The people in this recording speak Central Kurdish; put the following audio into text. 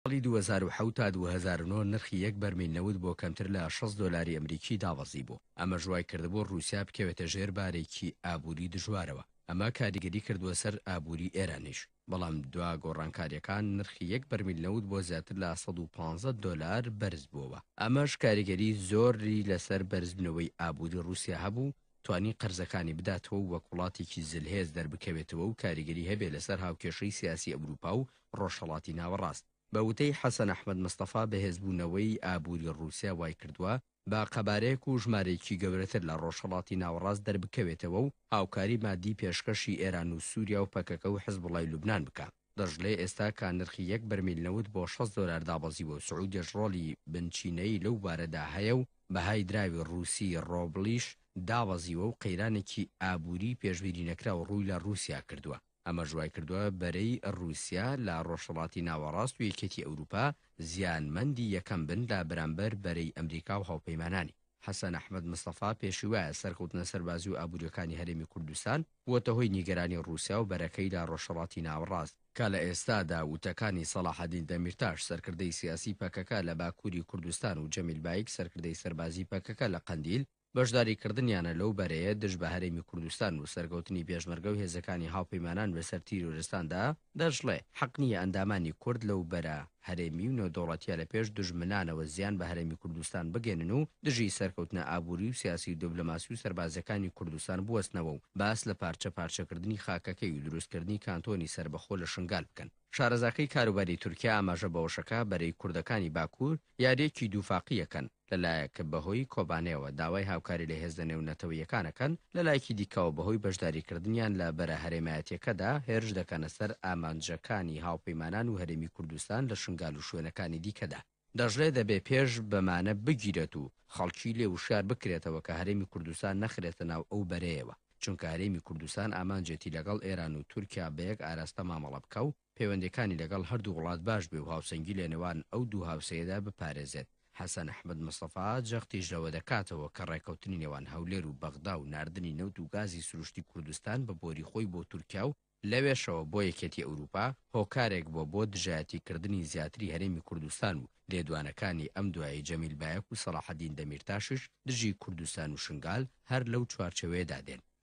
ساڵی دوو هەزار و حەوت تا دوو هەزار و نۆ نرخی یەک بەرمیل نەوت بۆ کەمتر لە شەست دۆلاری ئەمریکی دابەزیبوو، ئەمەش وایکردبوو ڕووسیا بکەوێتە ژێر بارێکی ئابووری دژوارەوە، ئەمە کاریگەری کردووە سەر ئابووری ئێرانیش، بەڵام دوا گۆڕانکارییەکان نرخی یەک بەرمیل نەوت بۆ زیاتر لە سەد و پازدە دۆلار بەرزبووەوە، ئەمەش کاریگەری زۆری لەسەر بەرزبوونەوەی ئابووری ڕووسیا هەبوو، توانی قەرزەکانی بداتەوە و وەک وڵاتێکی زلهێز دەربکەوێتەوە و کاریگەری هەبێ لەسەر هاوکێشەی سیاسی ئەوروپا و ڕۆژهەڵاتی ناوەڕاست. بە وتەی حەسەن ئەحمەد مستەفا، بەهێزبوونەوەی ئابووری ڕووسیا وایکردووە بە قەبارەیەک و ژمارەیەکی گەورەتر لە ڕۆژهەڵاتی ناوەڕاست دەربکەوێتەوە و هاوکاری ماددی پێشکەشی ئێران و سووریا و پەکەکە و حزبوڵای لوبنان بکا. دەشڵێ، ئێستا کە نرخی یەک بەرمیل نەوت بۆ شەست دۆلار دابەزیوە و سعودیەش ڕۆڵی بنچینەیی لەو بوارەدا هەیە و بەهای دراوی ڕووسی ڕۆبڵیش دابەزیوە و قەیرانێکی ئابووریی پێشبیرینەکراو ڕووی لە ڕووسیا کردووە، ئەمەش وایکردووە بەرەی ڕووسیا لە ڕۆژهەڵاتی ناوەڕاست و یەکێتی ئەوروپا زیانمەندی یەکەم بن لە بەرامبەر بەرەی ئەمریکا و هاوپەیمانانی. حەسەن ئەحمەد مستەفا پێشیوایە سەرکەوتنە سەربازی و ئابوورییەکانی هەرێمی کوردستان بووەتە هۆی نیگەرانی ڕووسیا و بەرەکەی لە ڕۆژهەڵاتی ناوەڕاست، کە لە ئێستادا وتەکانی سەڵاحەدین دەمیرتاش سەرکردەی سیاسی پەکەکە لە باکووری کوردستان و جەمیل بایک سەرکردەی سەربازی پەکەکە لە قەندیل بەشداری کردنیانە لەو بەرەیە دژ بە هەرێمی کوردستان و سەرکەوتنی پێشمەرگە و هێزەکانی هاوپەیمانان بەسەر تیرۆرستاندا دەشڵێ، حەق نییە ئەندامانی کورد لەو بەرە. هەرێمی و نێودەوڵەتیە لە پێش دوژمنانەوە زیان بە هەرێمی کوردستان بگەێنن و دژی سەرکەوتنە ئابوری و سیاسی و دبلۆماسی و سەربازیەکانی کوردستان بوەستنەوە و باس لە پارچە پارچە کردنی خاکەکەی و دروست کردنی کانتۆنی سەربەخۆ لە شنگال بکەن. شارەزاکەی کاروباری تورکیا ئاماژە بەوەشەکا بەرەی کوردەکانی باکور یاریەکی دوفاقی یەکەن، لەلایەک بەهۆی کۆبانێوە داوای هاوکاری لە هێزە نێونەتەوەییەکان ئەکەن، لەلایەکی دیکەوە بەهۆی بەشداریکردنیان لە بەرە هەرێمایەتییەکەدا هێرش دەکەنە سەر ئامانجەکانی هاوپەیمانان و هەرێمی کوردستان لە شنگال و شوێنەکانی دیکەدا. دەشڵێت دەبێ پێش بەمانە بگیرێت و خەڵکی لێ وشیار بکرێتەوە کە هەرێمی کوردستان نەخرێتە ناو ئەو بەرەیەوە، چونکە هەرێمی کوردستان ئامانجێتی لەگەڵ ئێران و تورکیا بە یەک ئاراستە مامەڵە بکا و پەیوەندیەکانی لەگەڵ هەردوو وڵات باش بێ و هاوسەنگی لەنێوان ئەو دوو هاوسێیەدا بپارێزێت. حەسەن ئەحمەد مستەفا جەختیش لەوە دەکاتەوە کە ڕێکەوتنی نێوان هەولێر و بەغدا و ناردنی نەوت و گازی سروشتی کوردستان بە بۆری خۆی بۆ تورکیا و لەوێشەوە بۆ یەکێتی ئەوروپا، هۆکارێک بووە بۆ دژایەتی کردنی زیاتری هەرێمی کوردستان و لێدوانەکانی ئەم دوایەی جەمیل بایەک و سەڵاحەدین دەمیرتاشیش دژی کوردستان و شنگال هەر لەو چوارچێوەیەدا دێن.